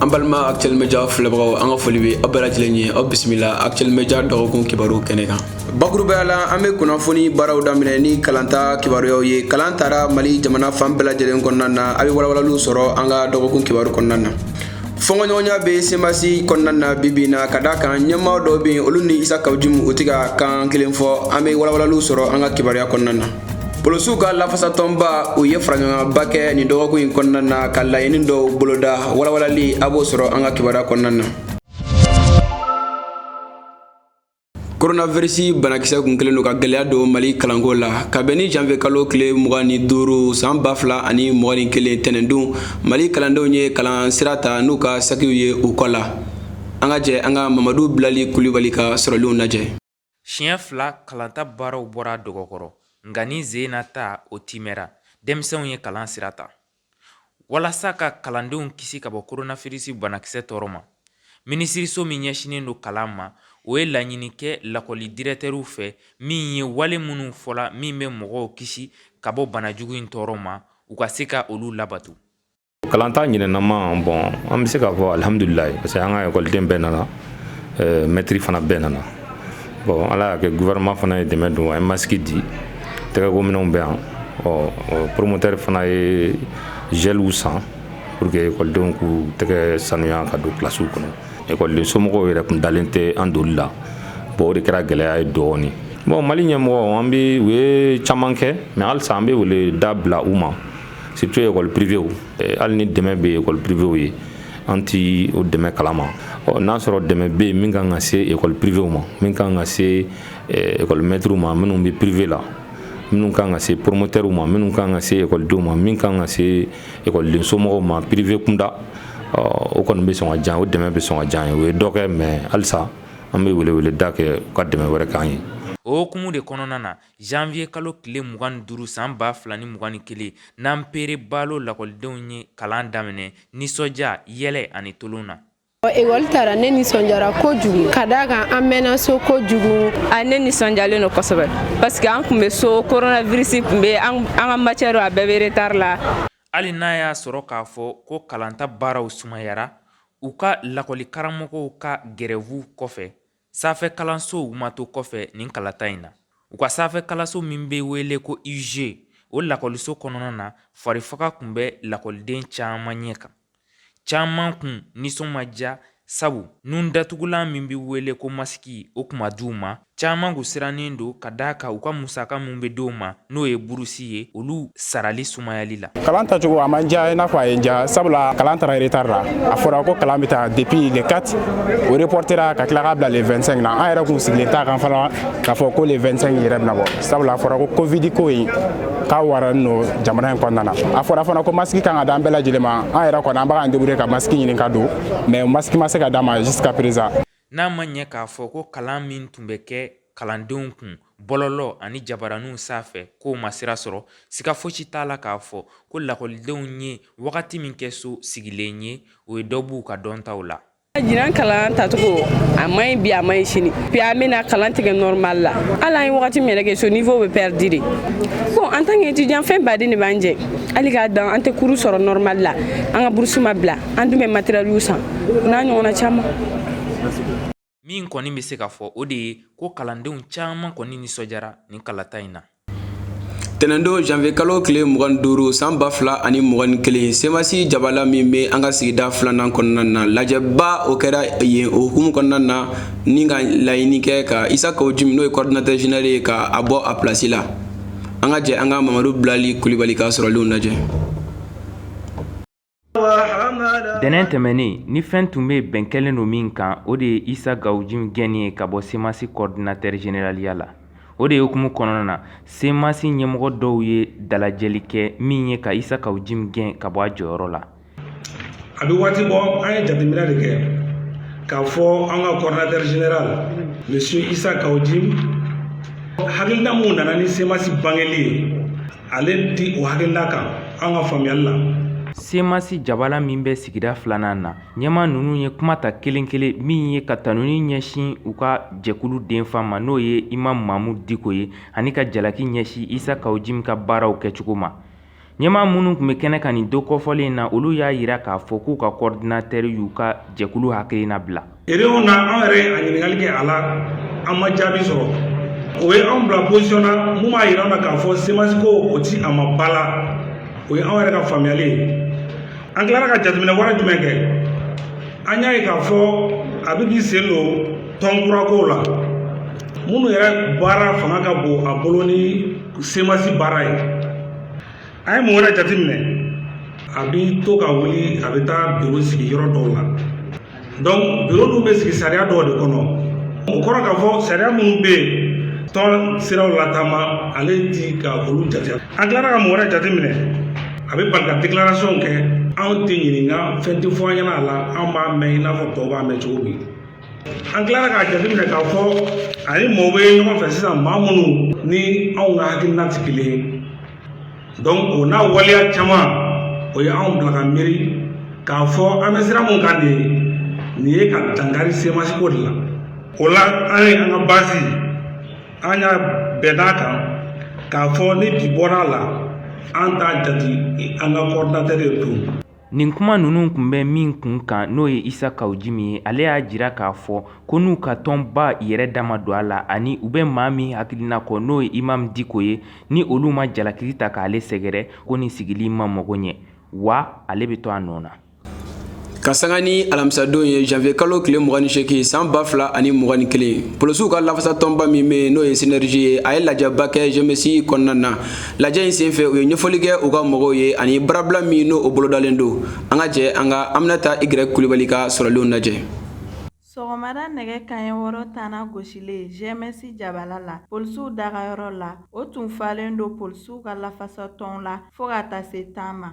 an balima actuel media filɛbagaw an ka foli bɛ aw bɛɛ lajɛlen ye aw bisimila actuel media dɔgɔkun kibaru kɛnɛ kan bakurubaya la an bɛ kunnafoni baaraw daminɛ ni kalanta kibaruyaw ye kalan tara mali jamana fan bɛɛ lajɛlen kɔnɔna na a bɛ walawalaliw sɔrɔ an ka dɔgɔkun kibaru kɔnɔna na fɔnkɔɲɔgɔnya bɛ semasi kɔnɔna na bibi na ka da kan ɲɛmaa dɔw bɛ yen olu ni isa kawu jimu u tɛ ka kan kelen fɔ an bɛ walawalaliw sɔrɔ an ka kibaruya kɔnɔna na polosiw ka lafasatɔnba u ye faraɲɔgɔnba kɛ nin dɔgɔkun in kɔnɔna na ka laɲini dɔw boloda walawalali a b'o sɔrɔ an ka kibaruya kɔnɔna na koronavirisi banakisɛ kun kɛlen don ka gwɛlɛya don mali kalanko la ka bɛn ni janvier kalo tile mugan ni duuru san ba fila ani mugan ni kelen tɛnɛndon mali kalandenw ye kalan sira ta n'u ka sakiw ye u kɔ la an ka jɛ an ka mamadu bilali kulibali ka sɔrɔlenw lajɛ siɲɛ fila kalanta baaraw bɔra dɔgɔ kɔrɔ nka nin sen na ta o timɛra denmisɛnw ye kalan sira ta walasa ka kalandenw kisi ka bɔ koronafirisi banakisɛ tɔɔrɔ ma minisiriso min ɲɛsinnen don kalan ma o ye laɲini kɛ lakɔli dirɛtɛriw fɛ min ye wale minnu fɔla min bɛ mɔgɔw kisi ka bɔ banajugu in tɔɔrɔ ma u ka se ka olu labato kalan ta ɲinɛnama bɔn an bɛ se k'a fɔ alihamudulila parce que an ka ekɔliden bɛɛ nana euh, mɛtiri fana bɛɛ nana bɔn ala y'a kɛ gouvernement fana ye dɛmɛ don a ye masiki di tɛgɛkominɛnw bɛ yan ɔ promoteur fana ye gɛliw san pour que ekɔlidenw k'u tɛgɛ sanuya ka don kilasiw kɔnɔ ekɔliden somɔgɔw yɛrɛ kun dalen tɛ an donli la bɔn o de kɛra gɛlɛya ye dɔɔni bɔn mali ɲɛmɔgɔ an bɛ u ye caman kɛ mais halisa an bɛ wele da bila u ma surtout école privéew eh, hali ni dɛmɛ bɛ école privéew ye an ti o dɛmɛ kalama n'a sɔrɔ dɛmɛ bɛ yen min kan ka se école privée ma min kan ka se eh, école maître ma minnu bɛ privé la minnu kan ka se promoteur ma minnu kan ka se ekɔlidenw ma min kan ka se ekɔliden somɔgɔw ma privé kunda o kɔni bɛ sɔn ka diy'an o dɛmɛ bɛ sɔn ka diy'an ye u ye dɔ kɛ mais halisa an bɛ weleweleda kɛ u ka dɛmɛ wɛrɛ k'an ye o hukumu de kɔnɔna na janvier kalo tile mugan ni duuru san ba fila ni mugan ni kelen nanpere balo lakɔlidenw ye kalan daminɛ nisɔndiya yɛlɛ ani tolon na ekɔli tara ne nisɔndiyara kojugu ka d'a kan an mɛnna so kojugu a ne nisɔndiyalen don kosɛbɛ parce que an tun bɛ so coronavirus tun bɛ an ka matière a bɛɛ bɛ retard la hali n'a y'a sɔrɔ k'a fɔ ko kalanta baaraw sumayara u ka lakɔli karamɔgɔw ka gɛrɛvuw kɔfɛ sanfɛ kalansow ma to kɔfɛ nin kalanta in na u ka sanfɛ kalanso min bɛ wele ko iyuze o lakɔliso kɔnɔna na farifaga kun bɛ lakɔliden caman ɲɛ kan caman kun nisɔn ma diya sabu nun datugulan min bɛ wele ko masiki o kun ma d'u ma caman kun sirannen don ka d'a kan u ka musaka min bɛ di' ma n'o ye burusi ye olu sarali sumayali la kalan tacogo a ma n diya i n'a fɔ a ye n diya sabula kalan tara retard la a fɔra ko kalan bɛ ta depuis le 4 o reportera ka tila k'a bila le 25 na an yɛrɛ kun sigilen t'a kan fana k'a fɔ ko le 25 yɛrɛ bɛna bɔ sabula a fɔra ko covid ko in k'a waralen don jamana in kɔnɔna na a fɔra fana ko masiki kan ka d'an bɛɛ lajɛlen ma an yɛrɛ kɔni an b'a k'an débrouiller ka masiki ɲini ka don mais masiki ma se ka d'an ma jusqu'à présent n'a ma ɲɛ k'a fɔ ko kalan min tun bɛ kɛ kalandenw kun bɔlɔlɔ ani jabaraninw sanfɛ k'o ma sira sɔrɔ siga fosi t'a la k'a fɔ ko lakɔlidenw ye wagati min kɛ so sigilen ye o ye dɔ b'u ka dɔntaw la ɲinan kalan tacogo a man ɲi bi a man ɲi sini bi an bɛna kalan tigɛ normal la hali an ye wagati min yɛrɛ kɛ so niveau bɛ perdu de bon en tant que étudiant fɛn baden de b'an jɛ hali k'a dan an tɛ cours sɔrɔ normal la an ka burusi ma bila an dun bɛ matɛriyɛliw san o n'a ɲɔgɔnna caman min kɔni bɛ se ka fɔ o de ye ko kalandenw caman kɔni nisɔndiyara nin kalata in na tɛnɛndon janvier kalo tile mugan ni duuru san ba fila ani mugan ni kelen semasi jabala min bɛ an ka sigida filanan kɔnɔna na lajɛba o kɛra yen o hukumu kɔnɔna na ni ka laɲini kɛ ka isa kaw jimi n'o ye coordinateur général ye ka a bɔ a place la an ka jɛ an ka mamadu bilali kulibali ka sɔrɔlenw lajɛ Tɛnɛn tɛmɛnen ni fɛn tun bɛ bɛn kɛlen don min kan o de ye isa kaw jimi gɛnni ye ka bɔ semasi coordinateur généraliya la o de ye hukumu kɔnɔna na semasi ɲɛmɔgɔ dɔw ye dalajɛli kɛ min ye ka isa kaw jimi gɛn ka bɔ a jɔyɔrɔ la a bɛ waati bɔ an ye jateminɛ de kɛ k'a fɔ an ka coordinateur général monsieur isa kaw jimi hakilina mun nana ni semasi bangeli ye ale tɛ o hakilila kan an ka faamuyali la semasi jabala min bɛ sigida filanan na ɲɛma ninnu ye kuma ta kelen kelen min ye ka tanuni ɲɛsin u ka jɛkulu denfa ma n'o ye imam mamu diko ye ani ka jalaki ɲɛsin isa kawjimi ka baaraw kɛcogo ma ɲɛma minnu kun bɛ kɛnɛ kan nin don kɔfɔlen na olu y'a yira k'a fɔ k'u ka kɔɔridinatɛri y'u ka jɛkulu hakilina bila Réunion na an yɛrɛ ye a ɲininkali kɛ a la an ma jaabi sɔrɔ o ye anw bila position na mun b'a yira an na k'a fɔ semasi ko o ti a ma ba la o ye anw yɛrɛ ka faamuyali ye an tilara ka jateminɛ wɛrɛ jumɛn kɛ an y'a ye k'a fɔ a bɛ k'i sen don tɔn kura kow la minnu yɛrɛ baara fanga ka bon a bolo ni semasi baara ye an ye mun wɛrɛ jateminɛ a bɛ to ka wuli a bɛ taa biro sigi yɔrɔ dɔw la donc biro dun bɛ sigi sariya dɔw de kɔnɔ o kɔrɔ k'a fɔ sariya minnu bɛ yen tɔn siraw latama ale ti ka olu jate an tilara ka mun wɛrɛ jateminɛ a bɛ bali ka déclaration kɛ anw tɛ ɲininka fɛn tɛ fɔ an ɲɛna a la anw b'a mɛn i n'a fɔ tɔw b'a mɛn cogo min an tilara k'a jateminɛ k'a fɔ a ni mɔgɔw bɛ ɲɔgɔn fɛ sisan maa minnu ni anw ka hakilina tɛ kelen ye o n'a waleya caman o ye anw bila ka miiri k'a fɔ an bɛ sira mun kan de nin ye ka dankari semasi ko de la o la an ye an ka base an y'a bɛn a kan k'a fɔ ni bi bɔra a la an t'a jate an ka coordinateur ye tun Nin kuma ninnu tun bɛ min kun kan n'o ye isa kaw jimi ye ale y'a jira k'a fɔ ko n'u ka tɔnba yɛrɛ dama don a la ani u bɛ maa min hakilina kɔ n'o ye imamu diko ye ni olu ma jalakili ta k'ale sɛgɛrɛ ko nin sigili ma mago ɲɛ wa ale bɛ to a nɔ na ka sanga ni alamisadon ye janvier kalo tile 28 san ba fila ani mugan ni kelen polosiw ka lafasatɔnba min bɛ n'o ye synergie ye a ye lajɛba kɛ gms kɔnɔna na lajɛ in senfɛ u ye ɲɛfɔli kɛ u ka mɔgɔw ye ani baarabila min n'o bolodalen don an ka jɛ an ka aminata y kulibali ka sɔrɔlenw lajɛ sɔgɔmada nɛgɛ kaɲɛ wɔɔrɔ tanna gosilen gms jabala la polisiw dagayɔrɔ la o tun falen don polisiw ka lafasatɔnw la fɔɔ ka taa se tan ma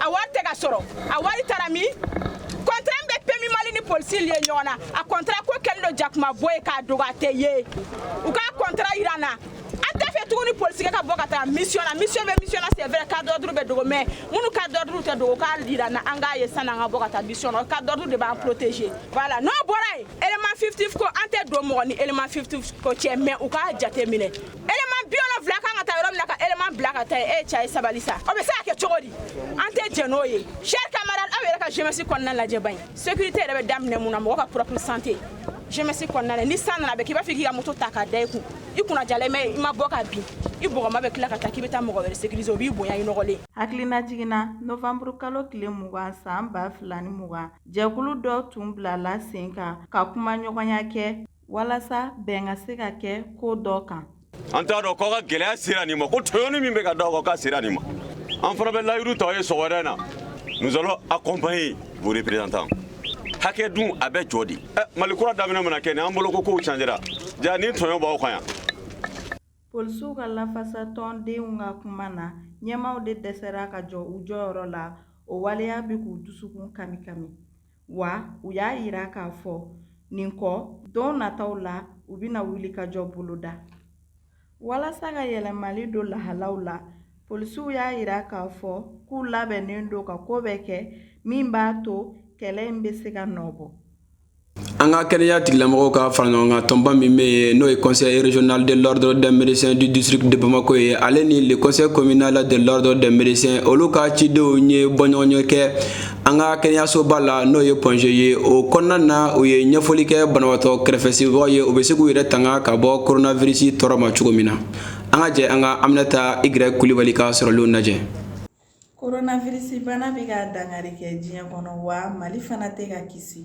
a wari tɛ ka sɔrɔ a wari taara min contrat min bɛ pmu mali ni polisi lier ɲɔgɔn na a contrat ko kɛlen don jakuma bo ye k'a dogo a tɛ ye u ka contrat yira an na an t'a fɛ tuguni polisikɛ ka bɔ ka taa mission na mission bɛ mission na c'est vrai cadre d'ordre bɛ dogo mais minnu cadre d'ordre tɛ dogo k'a yira an na an k'a ye san'an ka bɔ ka taa mission na cadre d'ordre de b'an protéger voilà n'o bɔra yen élément fictif ko an tɛ don mɔgɔ ni élément fictif ko cɛ mais u k'a jateminɛ élément bi wolonfila kan ka taa yɔrɔ min na ka élément bila ka taa yen e ye cɛ ye sabali sa o bɛ se ka kɛ cogo di an tɛ jɛn n'o ye chers camarades aw yɛrɛ ka gms kɔnɔna lajɛ ban sécurité yɛrɛ bɛ daminɛ mun na mɔgɔ ka propre santé gms kɔnɔna la ni san nana a bɛ k'i b'a fɔ k'i ka moto ta k'a da i kun i kunna diyalen bɛ i ma bɔ ka bin i bɔgɔma bɛ tila ka taa k'i bɛ taa mɔgɔ wɛrɛ sécuriser o b'i bonya i nɔgɔlen hakililajigin na novanburu kalo tile mugan san ba fila ni mugan jɛkulu dɔ tun bilala sen kan ka kuma ɲɔgɔnya kɛ walasa bɛn ka se ka kɛ ko dɔ kan an t'a dɔn k'aw ka gɛlɛya sera nin ma ko tɔɲɔni min bɛ ka d'aw kan k'a sera nin ma an fana bɛ layiru ta aw ye sɔgɔmada in na nous allons accompagner vos représentants hakɛ dun a bɛ jɔ de ɛ mali kura daminɛ mana kɛ nin an bolo ko kow changera ja nin tɔɲɔ b'aw kan yan polisiw ka lafasa tɔndenw ka kuma na ɲɛmaaw de dɛsɛra ka jɔ u jɔyɔrɔ la o waleya bɛ k'u dusukun kami kami wa u y'a yira k'a fɔ nin kɔ don nataw la u bɛna wulikajɔ boloda walasa ka yɛlɛmali don lahalaw la polisiw y'a yira k'a fɔ k'u labɛnnen don ka ko bɛɛ kɛ min b'a to kɛlɛ in bɛ se ka nɔ bɔ an ka kɛnɛya tigilamɔgɔw ka fara ɲɔgɔn kan tɔnba min bɛ yen n'o ye conseil régional de l'ordre des médecins du district de bamako ye ale ni le conseil communal de l'ordre des médecins olu ka cidenw ye bɔɲɔgɔnye kɛ an ka kɛnɛyasoba la n'o ye pɔnze ye o kɔnɔna na u ye ɲɛfɔli kɛ banabaatɔ kɛrɛfɛsibagaw ye u bɛ se k'u yɛrɛ tanga ka bɔ koronavirisi tɔɔrɔ ma cogo min na an ka jɛ an ka aminata igirɛki kulibali ka sɔrɔlenw lajɛ koronavirisibana bɛ ka dankari kɛ diɲɛ kɔnɔ wa mali fana tɛ ka kisi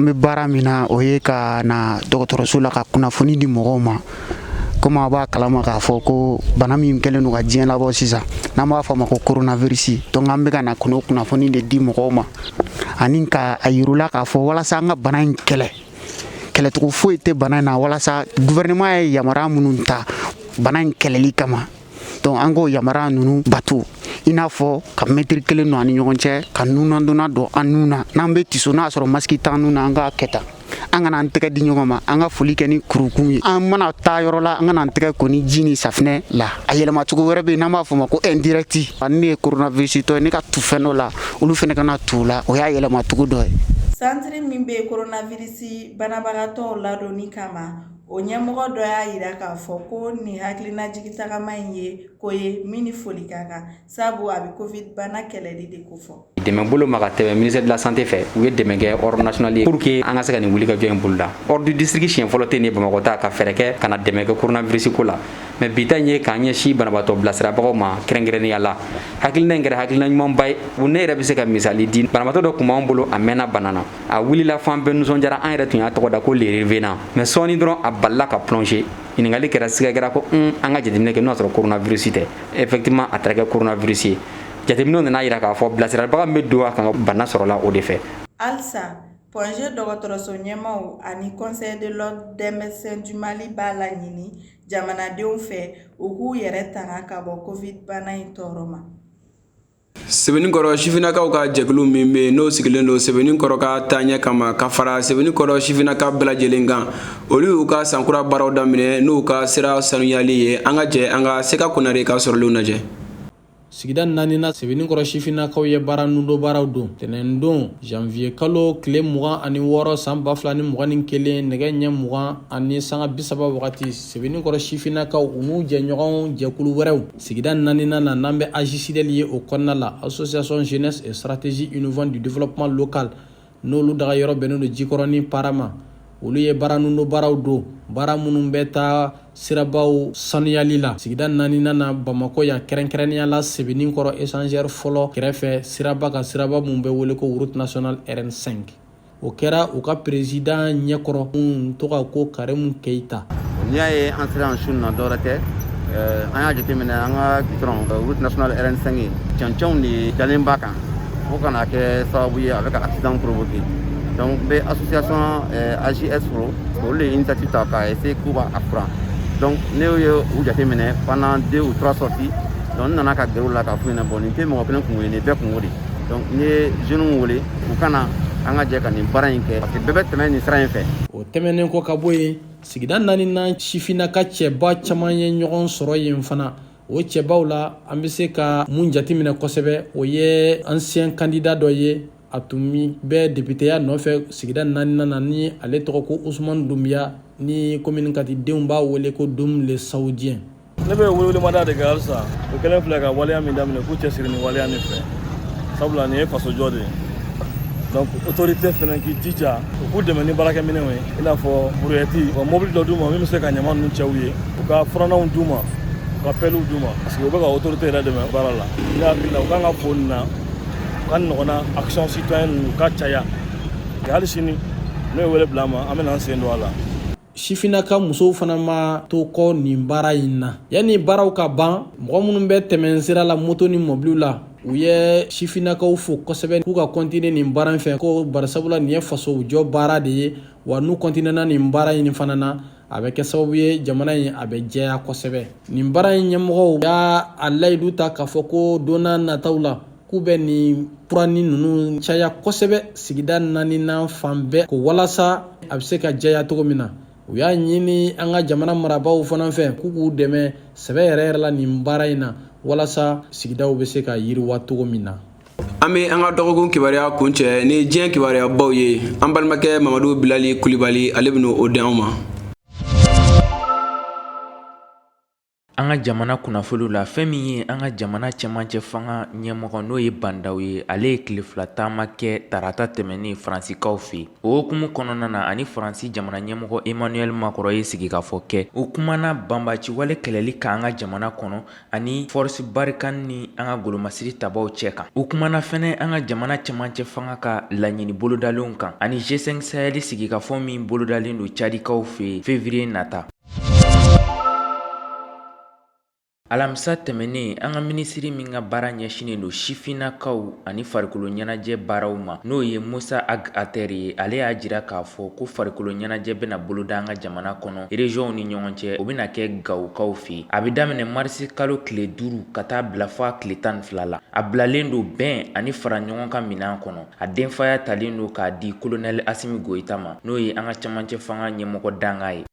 an bɛ baara min na o ye ka na dɔgɔtɔrɔso la ka kunnafoni di mɔgɔw ma komi a b'a kalama k'a fɔ ko bana min kɛlen don ka diɲɛ labɔ sisan n'an b'a fɔ ma ko coronavirus donc an bɛ ka na kunnafoni de di mɔgɔw ma ani ka a yira u la k'a fɔ walasa an ka bana in kɛlɛ kɛlɛcogo foyi tɛ bana in na walasa gouvernement ye yamaruya minnu ta bana in kɛlɛli kama dɔnku an k'o yamaruya ninnu bato i n'a fɔ ka mɛtiri kelen don an ni ɲɔgɔn cɛ ka nunnadonna don an nun na n'an bɛ tiso n'a sɔrɔ masiki t'an nun na an k'a kɛ tan an kana an tɛgɛ di ɲɔgɔn ma an ka foli kɛ ni kurukun ye an mana taa yɔrɔ la an ka na an tɛgɛ ko ni ji ni safinɛ la a yɛlɛmacogo wɛrɛ bɛ yen n'an b'a fɔ ma ko indirect ani ne ye koronavirisitɔ ye ne ka tu fɛn dɔ la olu fɛnɛ ka na tu la o y'a yɛlɛmacogo dɔ ye santiri min bɛ koronavirisi banabagatɔ ladonni kama o ɲɛmɔgɔ dɔ y'a yira k'a fɔ ko nin hakilinajigi tagama in ye ko ye min ni foli ka kan sabu a bɛ covid bana kɛlɛli de kofɔ dɛmɛ bolo ma ka tɛmɛ ministère de la santé fɛ u ye dɛmɛ kɛ ordre national ye pour que an ka se ka nin wulikajɔ in boloda ordre du district siɲɛ fɔlɔ tɛ nin ye bamakɔ ta ka fɛɛrɛ kɛ ka na dɛmɛ kɛ koronavirisiko la mɛ bi ta in ye k'an ɲɛsin banabaatɔ bilasirabagaw ma kɛrɛnkɛrɛnnenya la hakilina in kɛra hakilina ɲumanba ye u ne yɛrɛ bɛ se ka misali di banabaatɔ dɔ tun b'an bolo a mɛnna bana na a wulila fan bɛɛ nisɔndiyara an yɛrɛ tun y'a tɔgɔ da ko le revenant mais sɔɔni dɔrɔn a balila ka plonger ɲininkali kɛra siga kɛra ko un an ka jateminɛ kɛ n'o y'a sɔrɔ coronavirus tɛ effectivement a taara kɛ coronavirus ye jateminɛw nan'a yira k'a fɔ bilasiralibaga min bɛ don a ka bana sɔrɔla o de fɛ halisa pɔnze dɔgɔtɔrɔso ɲɛmaaw ani conseil de l'ordre des médecins du mali b'a laɲini jamanadenw fɛ u k'u yɛrɛ tanga ka bɔ covid bana in tɔɔrɔ ma sebeninkɔrɔ sifinnakaw ka jɛkulu min bɛ yen n'o sigilen don sebeninkɔrɔ ka taaɲɛ kama ka fara sebeninkɔrɔ sifinnaka bɛɛ lajɛlen kan olu y'u ka sankura baaraw daminɛ n'u ka sira sanuyali ye an ka jɛ an ka seka konare ka sɔrɔlenw lajɛ sigida naaninan sebeninkɔrɔ sifinnakaw ye baara nundo baaraw don tɛnɛndon janviye kalo tile mugan ani wɔɔrɔ san ba fila ni mugan ni kelen nɛgɛ ɲɛ mugan ani sanga bisaba wagati sebeninkɔrɔ sifinnakaw u n'u jɛɲɔgɔn jɛkulu wɛrɛw Sigida naaninan na n'an bɛ AJSIDL ye o kɔnɔna la association jeunesse et stratégie innovante du développement local n'olu daga yɔrɔ bɛnnen don jikɔrɔnin para ma olu ye baara nin don baaraw don baara minnu bɛ taa sirabaw sanuyali la sigida naaninan na bamakɔ yan kɛrɛnkɛrɛnnenya la sebeninkɔrɔ échangeur fɔlɔ kɛrɛfɛ siraba kan siraba min bɛ wele ko route nationale rn5 o kɛra u ka président ɲɛkɔrɔ min tɔgɔ ko karimu keyita n'i y'a ye an sera an su na dɔwɛrɛ tɛ eh, an y'a jateminɛ an ka gitɔrɔn eh, route nationale rn5 cɛncɛnw de dalen b'a kan fo ka na kɛ sababu ye a bɛ ka accident provoquer donc n bɛ association eh, AJS fo olu de ye initiative ta k'a essayer k'u b'a furan donc ne ye u jateminɛ pendant deux ou trois sorties donc n nana ka gɛrɛ u la k'a f'u ɲɛna bon nin tɛ mɔgɔ kelen kunko ye nin bɛɛ kunko de donc n ye jeunes wele u ka na an ka jɛ ka nin baara in kɛ parce que bɛɛ bɛ tɛmɛ nin sira in fɛ o tɛmɛnen kɔ ka bɔ yen sigida naaninan sifinnaka cɛba caman ye ɲɔgɔn sɔrɔ yen fana o cɛbaw la an bɛ se ka min jateminɛ kosɛbɛ o ye ansiyɛn kandida dɔ ye a tun bɛ depiteya nɔfɛ sigida naaninan na ni ale tɔgɔ ko usumani dunbiya ni commune quatre denw b'a wele ko dum le saoudien ne bɛ welewelemada de kɛ halisa u kɛlen filɛ ka waleya min daminɛ k'u cɛsiri nin waleya nin fɛ sabula nin ye fasojɔ de ye donc autorité fana k'i jija u k'u dɛmɛ ni baarakɛminɛnw ye i n'a fɔ buruyɛti wa mobili dɔ d'u ma min bɛ se ka ɲama ninnu cɛ u ye u ka furannanw d'u ma u ka pɛliw d'u ma parce que u bɛ ka autorité yɛrɛ dɛmɛ baara la ne hakili la u kan ka fo nin na u k'a ɲɔgɔnna action citoyenne ninnu ka caya hali sini n'u ye wele bila an ma an bɛna an sen don a la sifinnaka musow fana ma to kɔ nin baara in na yanni baaraw ka ban mɔgɔ minnu bɛ tɛmɛn sira la moto ni mɔbiliw la u ye sifinnakaw fo kosɛbɛ k'u ka kɔntine nin baara in fɛ ko bari sabula nin ye faso jɔ baara de ye wa n'u kɔntinena nin baara in fana na a bɛ kɛ sababu ye jamana in a bɛ jɛya kosɛbɛ nin baara in ɲɛmɔgɔw y'a layidu ta k'a fɔ ko don na nataw la k'u bɛ nin furanni ninnu caya kosɛbɛ sigida naaninan fan bɛɛ ko walasa a bɛ se ka jɛya cogo min na u y'a ɲini an ka jamana marabaaw fana fɛ k'u k'u dɛmɛ sɛbɛ yɛrɛ yɛrɛ la nin baara in na walasa sigidaw bɛ se ka yiriwa cogo min na an bɛ an ka dɔgɔkun kibaruya kuncɛ ni diɲɛ kibaruyabaw ye an balimakɛ mamadu bilali kulibali ale bɛna o di anw ma An ka jamana kunnafoni la fɛn min ye an ka jamana cɛmancɛ fanga ɲɛmɔgɔ n'o ye ba ndaw ye ale ye tile fila taama kɛ tarata tɛmɛnen faransikaw fɛ yen o hukumu kɔnɔna na ani faransi jamana ɲɛmɔgɔ emmanuel macron ye sigikafɔ kɛ u kumana na banbaciwale kɛlɛli kan an ka jamana kɔnɔ ani force barkhane ni an ka golomasiri tabaw cɛ kan u kumana fana an ka jamana cɛmancɛ fanga ka laɲini bolodalenw kan ani G5 sahel sigikafɔ min bolodalen don cadikaw fɛ yen février nata alamisa tɛmɛnen an ka minisiri min ka baara ɲɛsinnen don sifinnakaw ani farikolo ɲɛnajɛ baaraw ma n'o ye musa ag atɛr ye ale y'a jira k'a fɔ ko farikolo ɲɛnajɛ bɛna boloda an ka jamana kɔnɔ erezɔnw ni ɲɔgɔn cɛ o bɛna kɛ gawokaw fɛ a bɛ daminɛ marisi kalo tile duuru ka taa bila fɔ a tile tan ni fila la a bilalen don bɛn ani fara ɲɔgɔn kan minɛn kɔnɔ A denfaya talen don k'a di kolonɛli asimi goyita ma n'o ye an ka camancɛ fanga ɲɛmɔgɔ dankan ye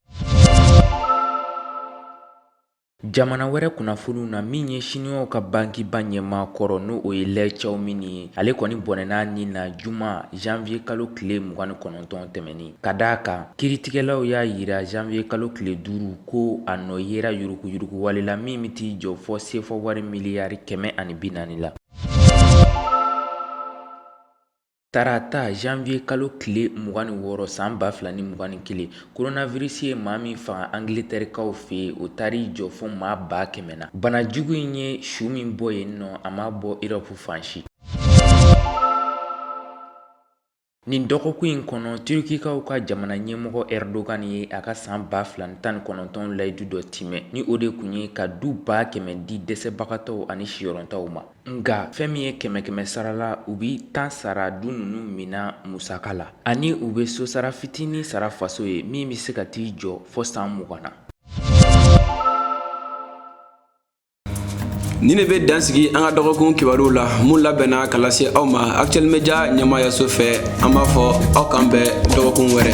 Jamana wɛrɛ kunnafoniw na min ye Siniwaw ka bankiba ɲɛmaa kɔrɔ n'o ye Lɛ Cawumini ye, ale kɔni bɔnɛna a ni na juma janvier kalo tile mugan ni kɔnɔntɔn tɛmɛnen, ka d'a kan kiritigɛlaw y'a yira janvier kalo tile duuru ko a nɔ yera yuruguyurugu wale la min bɛ t'i jɔ fɔ CFA wari miliyari kɛmɛ ani bi naani la. Tarata janvier kalo tile mugan ni wɔɔrɔ san ba fila ni mugan ni kelen coronavirus ye maa min faga angilitɛrikaw fɛ yen o taar'i jɔ fo maa ba kɛmɛ na bana jugu in ye su min bɔ yen nɔ a ma bɔ erɔpu fan si Nin dɔgɔkun in kɔnɔ turukikaw ka jamana ɲɛmɔgɔ Erdogan ye a ka san ba fila ni tan ni kɔnɔntɔn layidu dɔ timɛ ni o de tun ye ka du ba kɛmɛ di dɛsɛbagatɔw ani siyɔrɔntanw ma nka fɛn min ye kɛmɛ kɛmɛ sara la u bi tan sara du ninnu mina musaka la ani u bɛ sosara fitinin sara faso ye min bɛ se ka t'i jɔ fɔ san mugan na nin de bɛ dan sigi an ka dɔgɔkun kibaruw la mun labɛnna ka lase aw ma actuel media ɲɛmaayaso fɛ an b'a fɔ aw k'an bɛn dɔgɔkun wɛrɛ